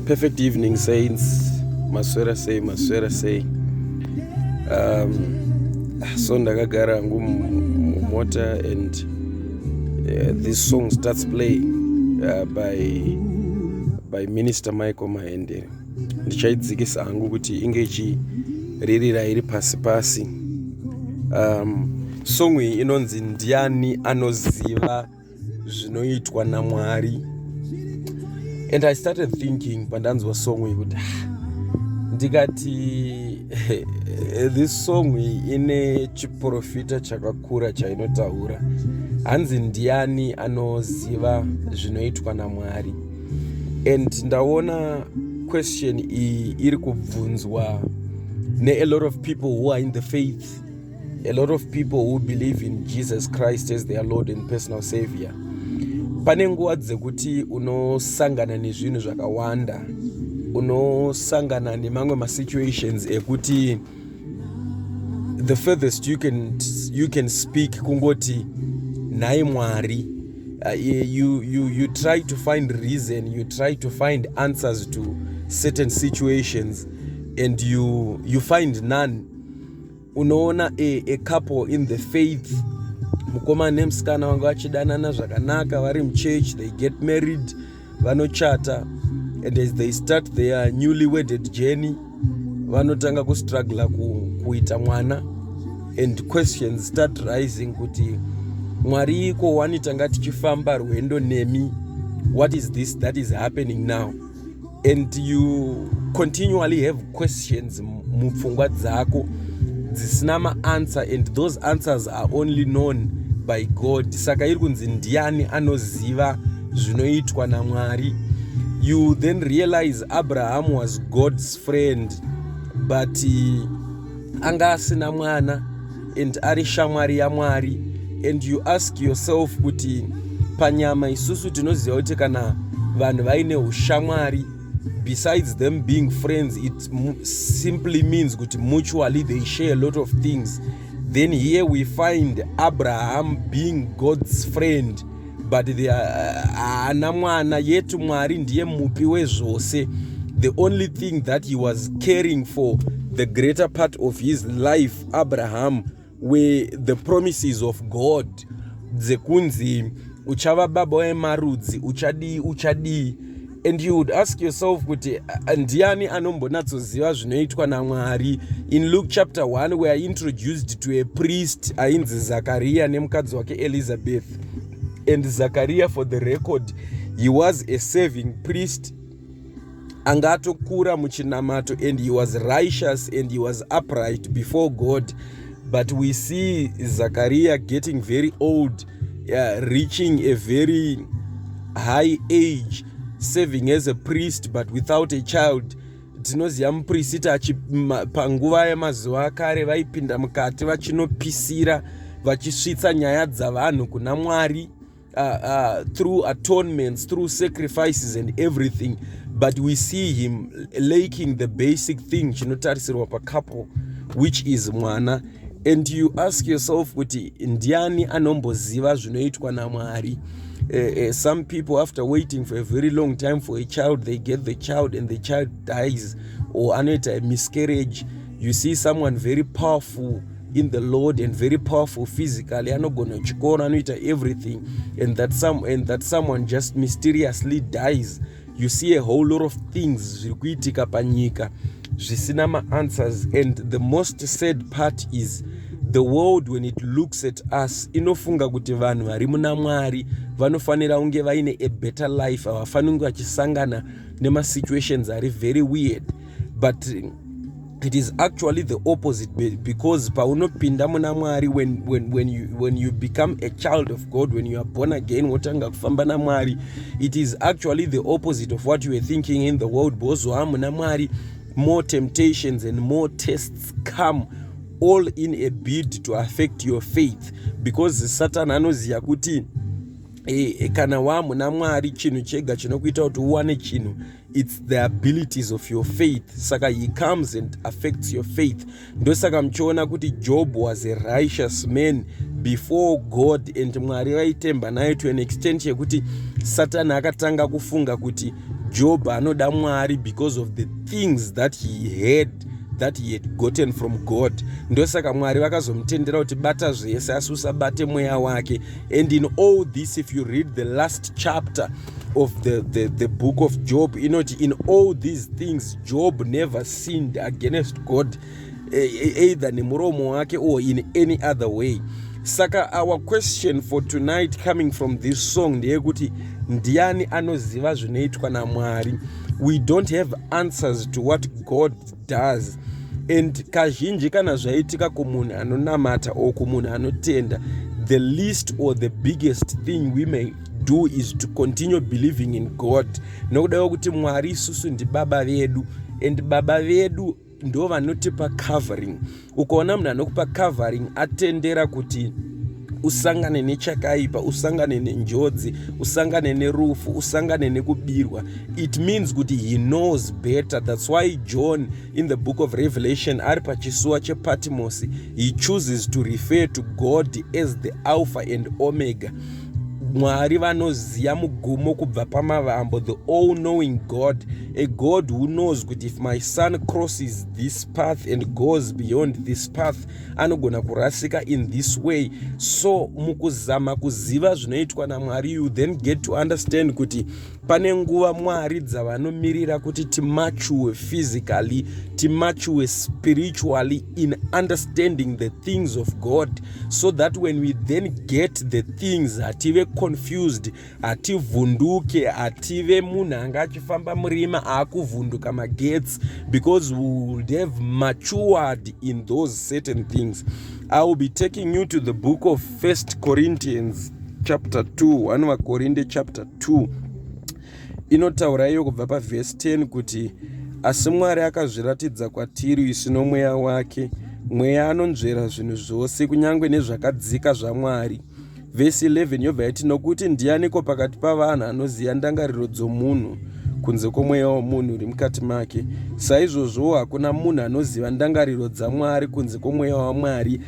perfect evening saints maswera sei maswera sei um, so ndakagara hangu mumota and uh, this song starts playing uh, by, by minister michael mahendere ndichaidzikisa hangu kuti inge ichiririra iri pasi pasi um, song iyi inonzi ndiani anoziva zvinoitwa namwari and i started thinking pandanzwa song iyi kuti ah, ndikati this song iyi ine chiprofita chakakura chainotaura hanzi ndiani anoziva zvinoitwa namwari and ndaona question iyi iri kubvunzwa ne a lot of people who are in the faith a lot of people who believe in jesus christ as their lord and personal savior pane nguva dzekuti unosangana nezvinhu zvakawanda unosangana nemamwe masituations ekuti the furthest you can, you can speak kungoti nhai mwari uh, you, you, you try to find reason you try to find answers to certain situations and you, you find none unoona a, a couple in the faith mukomana nemusikana vanga vachidanana zvakanaka vari muchurch they get married vanochata and as they start their newly wedded journey vanotanga kustruggla kuita mwana and questions start rising kuti mwari iko wani tanga tichifamba rwendo nemi what is this that is happening now and you continually have questions mupfungwa dzako dzisina maanswer and those answers are only known by god saka iri kunzi ndiani anoziva zvinoitwa namwari you then realize abraham was god's friend but uh, anga asina mwana and ari shamwari yamwari and you ask yourself kuti panyama isusu tinoziva kuti kana vanhu vaine ushamwari besides them being friends it simply means kuti mutually they share a lot of things then here we find abraham being god's friend but the uh, haana uh, mwana yet mwari ndiye mupi wezvose the only thing that he was caring for the greater part of his life abraham were the promises of god dzekunzi uchava baba wemarudzi uchadii uchadii and you would ask yourself kuti ndiani anombonatsoziva zvinoitwa namwari in luke chapter 1 we are introduced to a priest ainzi zakariya nemukadzi wake elizabeth and zakariya for the record he was a saving priest anga atokura muchinamato and he was righteous and he was upright before god but we see zakariya getting very old yeah, reaching a very high age serving as a priest but without a child tinoziva muprisita panguva yemazuva akare vaipinda mukati vachinopisira vachisvitsa nyaya dzavanhu kuna mwari uh, uh, through atonements through sacrifices and everything but we see him laking the basic thing chinotarisirwa pacaple which is mwana and you ask yourself kuti ndiani anomboziva zvinoitwa namwari uh, uh, some people after waiting for a very long time for a child they get the child and the child dies or anoita miscarriage you see someone very powerful in the lord and very powerful physically anogona chikoro anoita everything and that, some, and that someone just mysteriously dies you see a whole lot of things zviri kuitika panyika zvisina maanswers and the most sad part is the world when it looks at us inofunga kuti vanhu vari muna mwari vanofanira kunge vaine a better life havafaniri kunge vachisangana nemasituations ari very weird but it is actually the opposite because paunopinda muna mwari when, when, when, you, when you become a child of god when you are born again wotanga kufamba namwari it is actually the opposite of what you were thinking in the world because waa muna mwari more temptations and more tests come all in a bid to affect your faith because satan anoziva kuti e, kana waa muna mwari chinhu chega chinokuita kuti uwane chinhu it's the abilities of your faith saka he comes and affects your faith ndosaka muchiona kuti job was a righteous man before god and mwari vaitemba naye to an extent yekuti satani akatanga kufunga kuti job anoda mwari because of the things that he had that he had gotten from god ndosaka mwari vakazomutendera kuti bata zvese asi usabate mweya wake and in all this if you read the last chapter of the, the, the book of job inoti in all these things job never sinned against god e, e, either nemuromo wake or in any other way saka our question for tonight coming from this song ndeyekuti ndiani anoziva zvinoitwa namwari we don't have answers to what god does and kazhinji kana zvaitika kumunhu anonamata or kumunhu anotenda the least or the biggest thing we may do is to continue believing in god nokudawo kuti mwari isusu ndibaba vedu and baba vedu ndo vanotipa covering ukaona munhu anokupa covering atendera kuti usangane nechakaipa usangane nenjodzi usangane nerufu usangane nekubirwa it means kuti he knows better thats why john in the book of revelation ari pachisuwa chepatimosi he chooses to refer to god as the alpha and omega mwari vanoziva mugumo kubva pamavambo the all knowing god a god who knows kuti if my son crosses this path and goes beyond this path anogona kurasika in this way so mukuzama kuziva zvinoitwa namwari you then get to understand kuti pane nguva mwari dzavanomirira kuti timature physically timature spiritually in understanding the things of god so that when we then get the things hative confused hativhunduke hative munhu anga achifamba murima aakuvhunduka magetsi because we would have matured in those certain things i will be taking you to the book of 1 Corinthians chapter 2 1 vakorinde chapter 2 inotaura iyo kubva pavhesi 10 kuti asi mwari akazviratidza kwatiri isu nomweya wake mweya anonzvera zvinhu zvose kunyange nezvakadzika zvamwari vhesi 11 yobva yati nokuti ndianiko pakati pavanhu anoziva ndangariro dzomunhu kunze kwomweya womunhu uri mukati make saizvozvowo hakuna munhu anoziva ndangariro dzamwari kunze kwomweya wamwari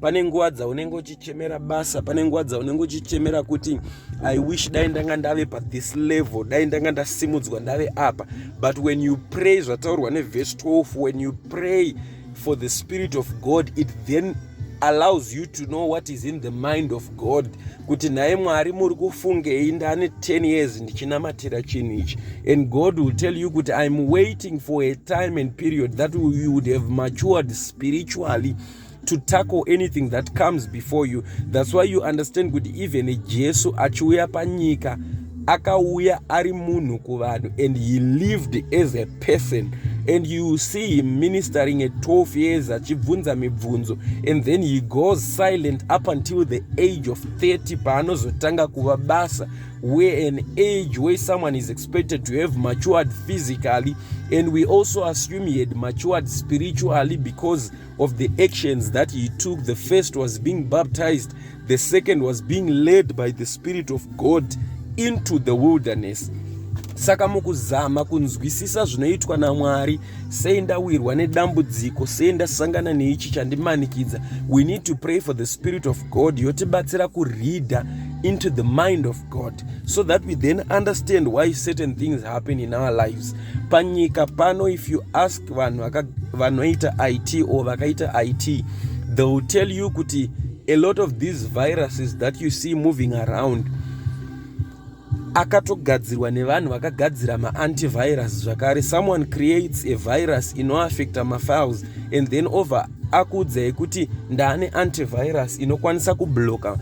pane nguva dzaunenge uchichemera basa pane nguva dzaunenge uchichemera kuti i wish dai ndanga ndave pathis level dai ndanga ndasimudzwa ndave apa but when you pray zvataurwa nevhesi 12 when you pray for the spirit of god it then allows you to know what is in the mind of god kuti nhaye mwari muri kufungei ndane 10 years ndichinamatira chinhu ichi and god will tell you kuti iam waiting for a time and period that you would have matured spiritually to tackle anything that comes before you thats why you understand kuti even jesu achiuya panyika akauya ari munhu kuvanhu and he lived as a person and you see him ministering at 12 years achibvunza mibvunzo and then he goes silent up until the age of 30 paanozotanga kuva basa where an age where someone is expected to have matured physically and we also assume he had matured spiritually because of the actions that he took the first was being baptized the second was being led by the spirit of god into the wilderness saka mukuzama kunzwisisa zvinoitwa namwari sei ndawirwa nedambudziko sei ndasangana neichi chandimanikidza we need to pray for the spirit of god yotibatsira kureader into the mind of God so that we then understand why certain things happen in our lives panyika pano if you ask vanhu vanoita it or vakaita it they will tell you kuti a lot of these viruses that you see moving around akatogadzirwa nevanhu vakagadzira maantivirus zvakare someone creates a virus inoaffecta mafiles and then over akuudzai kuti ndaane antivirus inokwanisa kubloka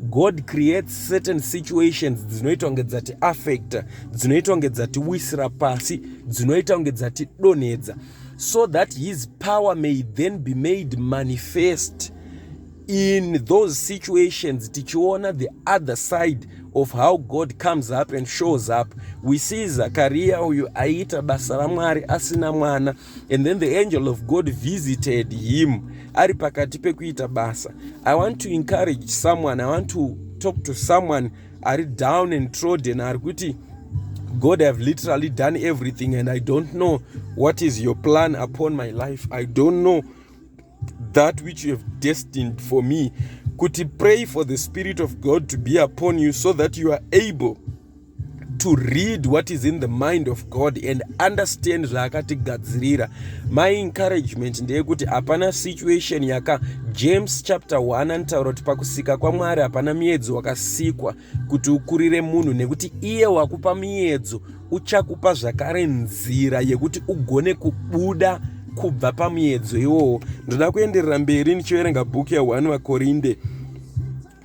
god creates certain situations dzinoita kunge dzati affecta dzinoita kunge dzati wisira pasi dzinoita kunge dzati donhedza so that his power may then be made manifest in those situations tichiona the other side of how god comes up and shows up we see zakaria uyu aiita basa ramwari asina mwana and then the angel of god visited him ari pakati pekuita basa i want to encourage someone i want to talk to someone ari down and trodden ari kuti god have literally done everything and i don't know what is your plan upon my life i don't know that which you have destined for me kuti pray for the spirit of god to be upon you so that you are able to read what is in the mind of god and understand zvaakatigadzirira my encouragement ndeyekuti hapana situation yaka james chapter 1 anotaura kuti pakusika kwamwari hapana miedzo wakasikwa kuti ukurire munhu nekuti iye wakupa muyedzo uchakupa zvakare nzira yekuti ugone kubuda kubva pamuyedzo iwowo ndoda kuenderera mberi ndichiverenga bhuku ya1 vakorinde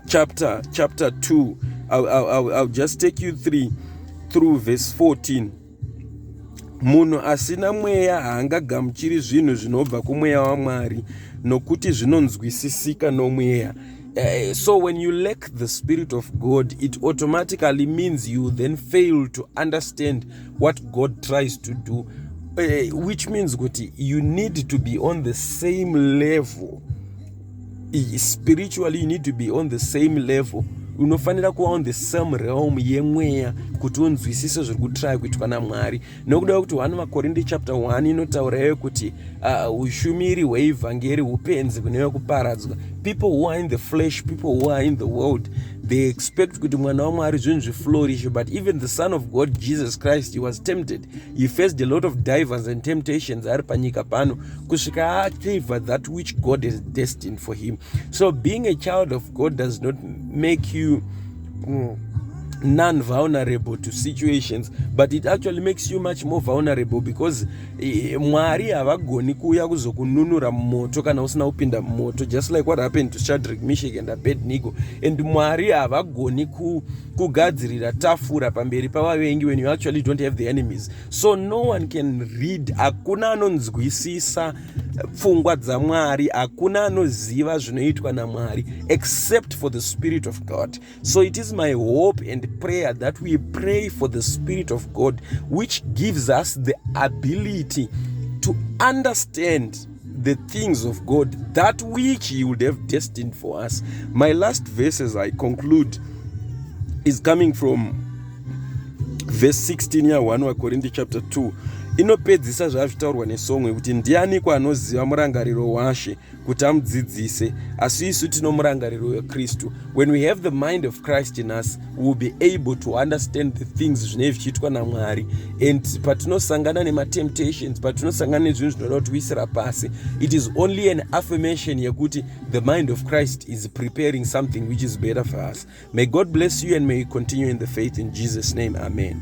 chapter chapter 2 I'll, I'll, I'll just take you three through verse 14 Munhu asina mweya haangagamuchiri zvinhu zvinobva kumweya waMwari nokuti zvinonzwisisika nomweya. Uh, so when you lack the spirit of God, it automatically means you then fail to understand what God tries to do, uh, which means kuti you need to be on the same level spiritually you need to be on the same level unofanira kuva on the same realm yemweya kuti unzwisise zviri kutraya kuitwa namwari nokuda kwekuti 1 vakorinde chapter 1 inotaura yeve kuti uh, ushumiri uh, hweivhangeri upenzi kune vekuparadzwa people who are in the flesh people who are in the world they expect kuti mwana wamwari zvinhu zviflourish but even the son of god jesus christ he was tempted he faced a lot of divers and temptations ari panyika pano kusvika acaiva that which god is destined for him so being a child of god does not make you mm, non vulnerable to situations but it actually makes you much more vulnerable because eh, mwari havagoni kuuya kuzokununura mumoto kana usina kupinda mumoto just like what happened to shadrick mishik and abednigo and mwari havagoni ku kugadzirira tafura pamberi pavavengi when you actually don't have the enemies so no one can read hakuna anonzwisisa pfungwa dzamwari hakuna anoziva zvinoitwa namwari except for the spirit of god so it is my hope and prayer that we pray for the spirit of god which gives us the ability to understand the things of God, that which He would have destined for us. My last verse as I conclude is coming from verse 16 ya 1 wakorinde chapter 2 inopedzisa zvazvitaurwa nesongwe kuti ndiani kwanoziva murangariro washe kuti amudzidzise asi isu tino murangariro wekristu when we have the mind of christ in us will be able to understand the things zvinee zvichiitwa namwari and patinosangana nematemptations patinosangana nezvinhu zvinoda kuti uisira pasi it is only an affirmation yekuti the mind of christ is preparing something which is better for us may god bless you and may you continue in the faith in jesus name amen